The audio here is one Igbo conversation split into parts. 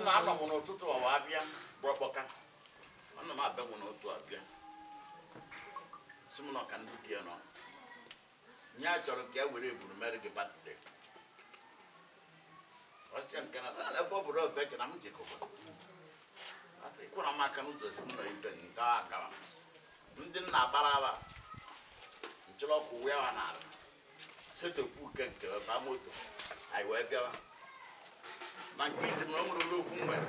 nna anọ m n'ụtụtụ ọwa abịa bụ ọkpọka anọ m be m n'ụtụtụ abịa sị m na ọka ndị di ya nọ nye a chọrọ ka e were eburu mere gị birthday ọ sị ya nke na "Ah, ebe ọ bụrụ ebe ka na m jekọba e si kụrụ m aka n'ụzọ si m nọ ibe gị nke ahụ agawa ndị na-agbara aba nchọrọ ọkụ wee wa n'ala setịpụ ụkwụ nke ba moto anyị wee bịawa ma nke izi na o nwere ụlọ okwu nwere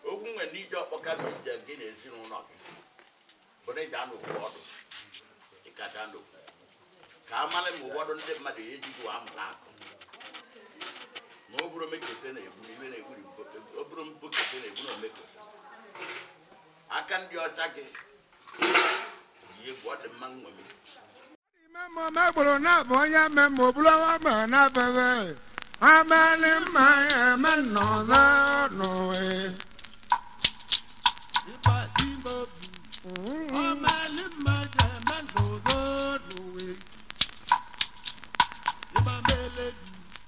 okwu nwere n'ije ọkpọka na ije gị na ezinụlọ gị bụrụ ịda n'okwu ọdụ ịka daa n'okwu ka a mara ma ụfọdụ ndị mmadụ ya ejighị wa amụrụ akụ ma ọ bụrụ omekete na-egbu na iwe na-egbu na ibo- ọ bụrụ mbokete na-egbu na omeko aka ndị ọcha gị yi egwu ọ dị mma nṅomi megburu na-abụ onye mmemme obulu ọwa ma na-abebe amalị mma ya eme nnọọ n'ụwa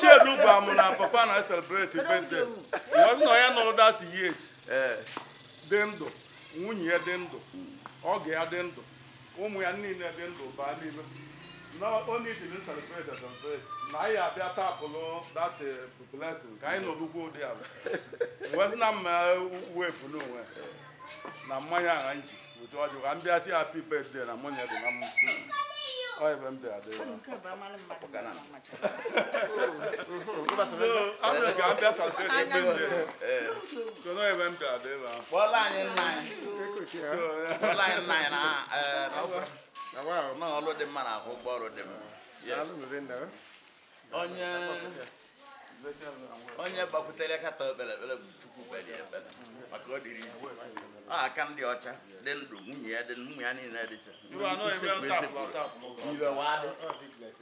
Chiedu gwa m na papa na celebrate birthday ọ nọ ya nọrọ that years dị ndụ nwunye ya dị ndụ oge ya dị ndụ ụmụ ya niile dị ndụ baa n'ime na onye ọ dịlị celebrate celebrate na anyị abịa tapụlụ that eh, blessing ka anyị nọlụkwa ụdị arọ wee sị na mma wefu n'onwe na mmanya agha nji otu ọjụ ka m bịa si happy birthday na mmanya dị na mma ọ ebe m bịa dị ya. Nke bụ amara mmadụ mara mmadụ. ọrụ dị mma na-ahụ ụgwọ ọrụ dị mma onye onye gbakwutere kata o kpere ekpere bụ Chukwu kpere ekpere maka ọ dịrọ easy o aka ndị ọcha dị ndụ nwunye ya dị ụmụ ya niile dịcha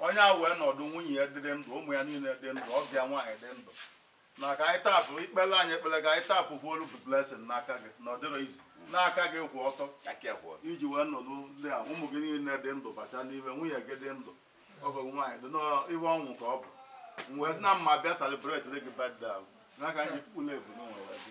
onye a wee nọdụ nwunye ya dịrị ndụ ụmụ ya niile dị ndụ ọgọ ya nwaanyị dị ndụ na ka anyị tapụ ikpele anyị ekpele ka anyị tapụkwuolu blessing n'aka gị na ọ dịrọ easy n'aka gị kwụ ọtọ iji wee nọdụ ndụ a ụmụ gị niile dị ndụ bata n'ime nwunye gị dị ndụ ọgọ gị nwaanyị dị n'iwe ọnwụ ka ọ bụ wee sị na mma bịa celebrate gị birthday n'aka anyị kpụla ebu n'ụwa gị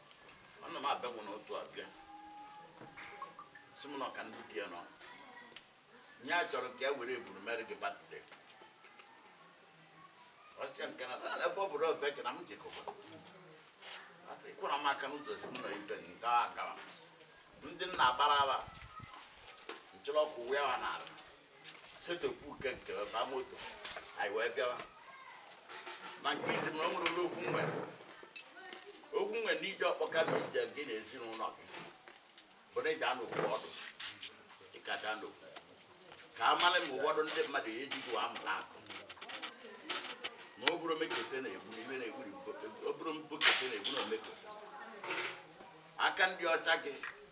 ana m abịa bụ n'otu abịa si m na ọka ndị di ya nọ nye a chọrọ ka e were eburu mere gị birthday ọsịa nke na na ebe ọ bụrụ ọbịa ka na m jekọba asị kụọra m aka n'ụzọ si m na ọ be gị nke a gara ndị nna agbara aba nchọrọ ọkụ wee wa n'ala setepụ uke nke ba moto anyị wee bịawa ma nke izi na o nwere ụlọ okwu nwere okwu nwere n'ije ọkpọka na ije gị na ezinụlọ gị bụ na ị ja-anọkwu ọdụ ị ka ja-anọkwu ka a mara ma ụfọdụ ndị mmadụ ya eji gị wa amụrụ akọ ma ọ bụrụ mekete na-egbu ibe na-egburi ọ bụrụ mpokete na-egbu na omekete aka ndị ọcha gị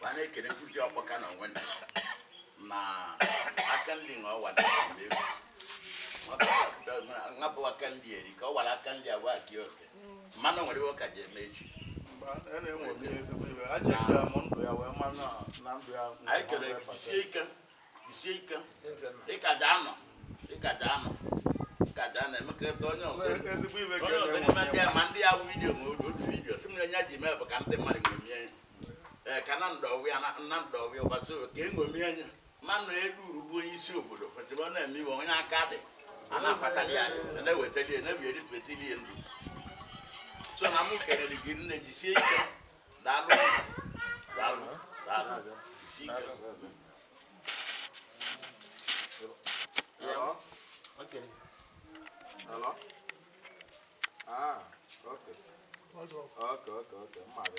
ma na-ekele nkuzi ọkpọka na onwe na aka nri na ọwa ngapụ aka nri eri ka ọ wara aka nri agwa gị oke mmanụ nwere iwe ka ji eme echi anyị ekele jisie ike jisie ike ị ka ja-anọ ị ka ja-anọ ị ka ja-anọ emekọrịta onye ọzọ onye ọzọ n'ime ndị a ma ndị ya wụ vidiyo ma otu vidiyo si m na enye ji mee bụ ka ndị mmadụ ṅomie Ee, ka na ndọwịa na na ndọwịa ụbọchị o- ka eṅomi anya manụ elu uru bụ onye isi obodo kwesịrị ọ na-eme iwe onye aka dị a na-akpatali ya a na-ewetali ya na-ebieri petili ya ndụ so na mụ kelere gị rinne jisie ike daalụ daalụ daalụ jisie ike Hello? Okay. Hello? Ah, okay. Okay, okay, okay. Mmadụ.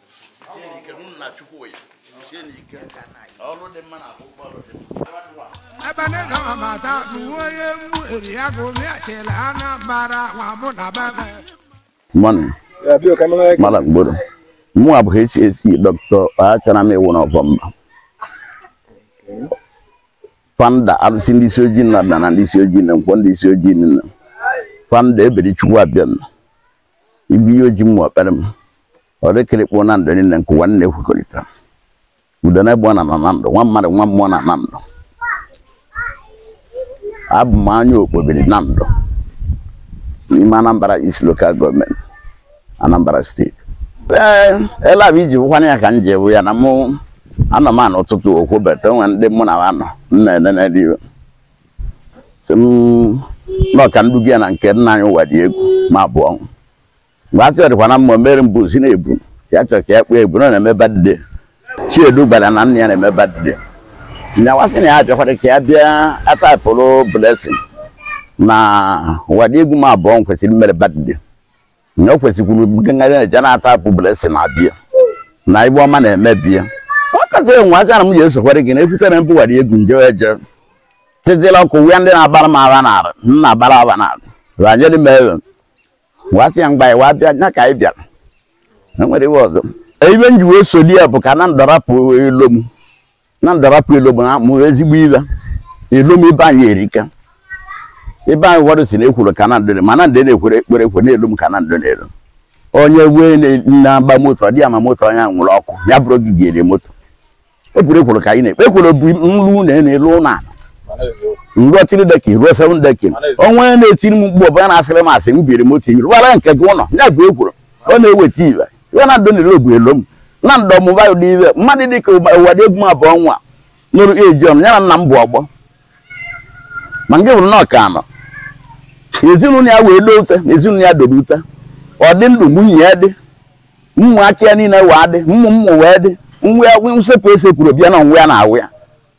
abanega mamata nuwoye mweri yako miachela ana mara wamuna baba mmanụ mara mgboro mụ abụ HAC doctor achọrọ m ịwụ n'ọbọ mba founder arụsị ndị isi ojii nna na ndị isi ojii na nkwọ ndị isi ojii nna founder Eberechukwu abịa m ibu ihe oji mma ọkpara m ọ dịkịrịkpụ Nando niile nke ụwa nna ekwekọrịta udo na egbụọ na na Nando nwa mmadụ nwa mmụọ na Nando abụ m onye okpobiri Nando n'ime anambra east local government anambra state ee ele abụ iji bụkwana ya ka m ji ewu ya na mụ anọ m anọ ụtụtụ okwobeta onwe ndị mụ na ha nọ m na-enene n'iwe sị m nọ ka m duga ya na nke nna anyị Ụwadịegwu Mabụọnwụ mgbe a chọrịkwa na mmụọ mere mbụ si na-ebu ya chọrọ ka ya kpee ebu na ọ na-eme birthday Chiedu gwara na nna ya na-eme birthday nya wee sị na ya bịakwara ka ya bịa atapụrụ blessing na Ụwadịegwu Mabụọnwụ kwesịrị imere birthday na o kwesịkwuru ngagharị na-eje na-atapụ blessing abịa na ibe ọma na-eme be ya ọ kasị enwe aja na m ji esokwara gị na ekwutere m bụ Ụwadịegwu nje eje titila ọkụ wee ndị na-agbara m aba na arụ m na-agbara aba na arụ ranyere m ego wasị ya mgbe anyị wa bịa nya ka anyị bịa na enwerọ ibe ọzọ ibe m ji wee solu ya bụ ka Nando rapụ elom Nando rapụ elom na abụrọ ezigbo ibe elom ebe anyị erika ebe anyị ụfọdụ sị na ekworo ka na Nando mana ndị na-ekwere ekpere ekwe na elom ka na Nando na elom onye wee na- na-agba moto ọ dị ya mma moto onye ahụ nwụrụ ọkụ ya bụrụ gị ga-eri moto ọ bụrụ ekworo ka anyị na-ekpe ekworo bụ nlu na na-elu ụlọ ala rụọ three decking rụọ seven decking onwe onye na-etiri m mgbe ọbụla na-asịrị m asị m biri moto iri wara nke gị ụlọ ya bụ ekworo ọ na-eweta ibe ya Nando na-elo bụ elom Nando mụba ụdị ibe mmadụ dị ka Ụwadịegwu Mabụọnwụ nọrọ age ọ nọ ya na nna m bụ ọgbọ ma nke bụrụ na ọ ka nọ ezinụlọ ya wee doo ute ezinụlọ ya dobe ute ọ dị ndụ nwunye ya dị ụmụaka ya niile wee dị ụmụ ụmụ wee dị nwa ya nsepụ esepụrọ be ya na nwa ya na awụ ya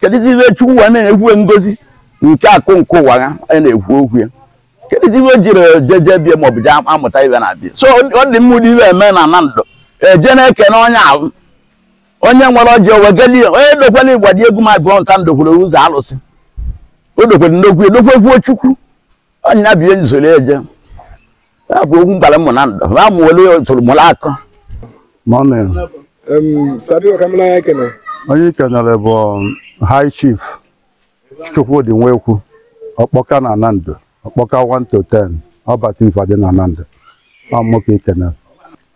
kedụzi ibe Chukwu wa na-enyekwu ngozi nke akụ nke ụwa ya a na-ekwu okwu ya kedụzi ibe jiri jeje be ya maọbụ jee amụta ibe na be ya so ọ dị mma ụdị ibe eme na Nando eje na-ekene onye ahụ onye nwere ọjị o wegeli onye dokwere Ụwadịegwu ma bụọ nta ndokwere ụzọ alụsị o dokwere ndokwu edokwekwuo Chukwu onye ya bie nzoro eje ya bụ okwu mgbara mmụ na ndụ ma mụ were tụrụ mụrụ akọ Morning. Sadio Kamilaya Ekene. Onye i kenere bụ um, High Chief Chukwudi Nwekwu Ọkpọka na Nando Ọkpọka 1 to 10 ọbata ife dị na Nando ọ mụ ka i kenere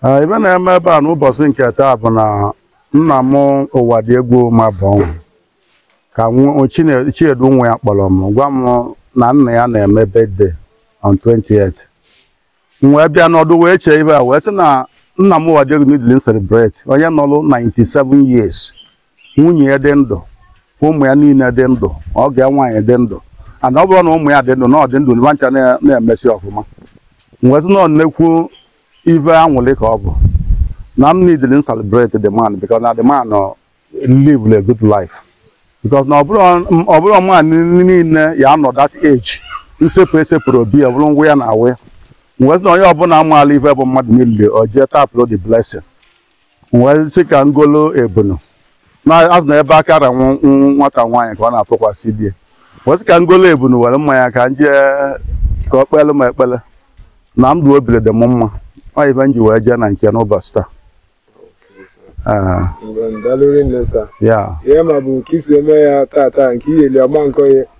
Ee, ibe na-eme ebe a n'ụbọchị nke taa bụ na nna m Ụwadịegwu Mabụọnwụ ka nwa- Chine- Chiedu nwa ya kpọrọ m gwa m na nna ya na-eme birthday on 28 m wee bịa nọdụ wee chee ibe a wee sị na nna m Ụwadịegwu needịlị m celebrate onye nọrụ 97 years nwunye ya dị ndụ ụmụ ya niile dị ndụ ọgọ ya nwaanyị dị ndụ ana ọ bụrụ na ụmụ ya dị ndụ na ọ dị ndụ nwa ncha na- na-emesi ọfụma m wee sị na ọ nnekwu ife aṅụlị ka ọ bụ na m needịlị m celebrate the man because na the man uh, live a good life because na ọ bụrọ man niile ya-anọ that age nsepụ esepụrọ be ya bụrụ ngwa ya na awa ya m wee sị na onye ọbụla maalụ ife bụ mmadụ niile o jee tapụrụ the blessing wee sị ka m golu ebunu na a sị na ebe aka ra nwa- nwa- nwata nwaanyị ka ọ na-atụkwasị di ya wee sị ka m golu ebunu were mmanya ka m jee ka ọ kpele m ekpele na ndụ obile dị m mma ọ ife m ji wee jee na nke n'ụbọchị taa Ee, Ngwa daalụ rinne sa. ya ihe ma bụ ka i si eme ya tata nke iyeli ọma nkọ ya